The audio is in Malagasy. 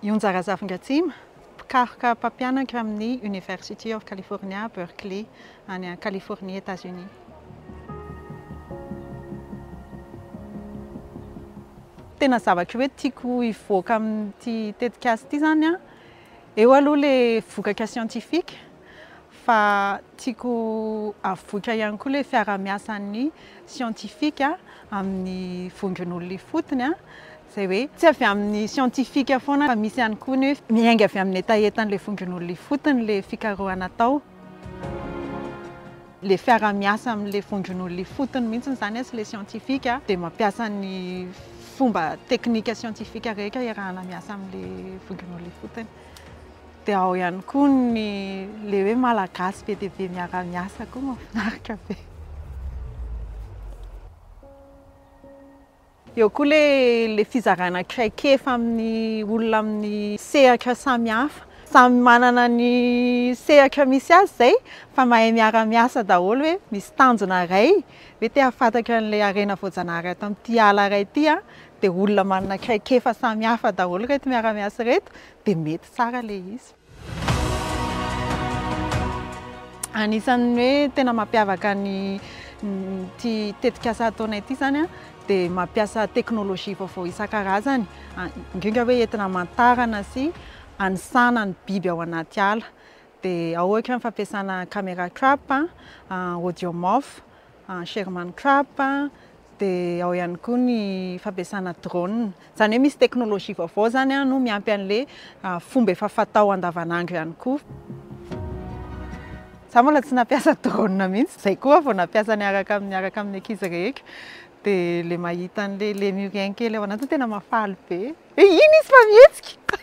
Yonzara Zavingatsima, mpikaroka mpampianatra amin'ny University of California, Berkeley, any Californie, Etazonia. Tena zavatra hoe tiako hivoaka amin'ity tetikasa ity izany an, eo aloha ilay vokatra siantifika, fa tiako avoitra ihany koa ilay fiarahamiasan'ny siantifika amin'ny vondron'olona ifotony, izay hoe tsy avy amin'ny siantifika foana fa misy ihany koa ny hoe miainga avy amin'ny hetahetan'ilay vondron'olona ifotony ilay fikarohana atao. Ilay fiarahamiasa amin'ilay vondron'olona ifotony mihitsy izany sy ilay siantifika dia mampiasa ny fomba teknika siantifika rehetra iarahana miasa amin'ilay vondron'olona ifotony. Dia ao ihany koa ny le hoe malagasy be dia be miara-miasa koa mahafinaritra be. Eo koa le le fizarana traikefa amin'ny olona amin'ny sehatra samihafa. Samy manana ny sehatra misy azy izay fa mahay miara-miasa daholo hoe misy tanjona iray hoe te hahafantatra an'ilay harena voajanahary ato amin'ity ala iray ity aho dia olona manana traikefa samihafa daholo ireto miara-miasa ireto dia mety tsara ilay izy. Anisan'ny hoe tena mampiavaka ny ity tetikasa ataonay ity izany dia mampiasa teknolojia vaovao isan-karazany, indrindra hoe entina hamantarana sy hanisana ny biby ao anaty ala. Dia ao ohatra ny fampiasana camera trap, audio mof. en Sherman Crab dia ao ihany koa ny fampiasana drone izany hoe misy teknolojia vaovao izany an no miampy an'le fomba efa fatao andavanandro ihany koa za mbola tsy nampiasa drone mihitsy izay koa vao nampiasa niaraka amin'ny araka amin'ny ankizy reheko dia le mahita an'le lemurien kely ao anaty tena mafaly be e iny izy fa mihetsika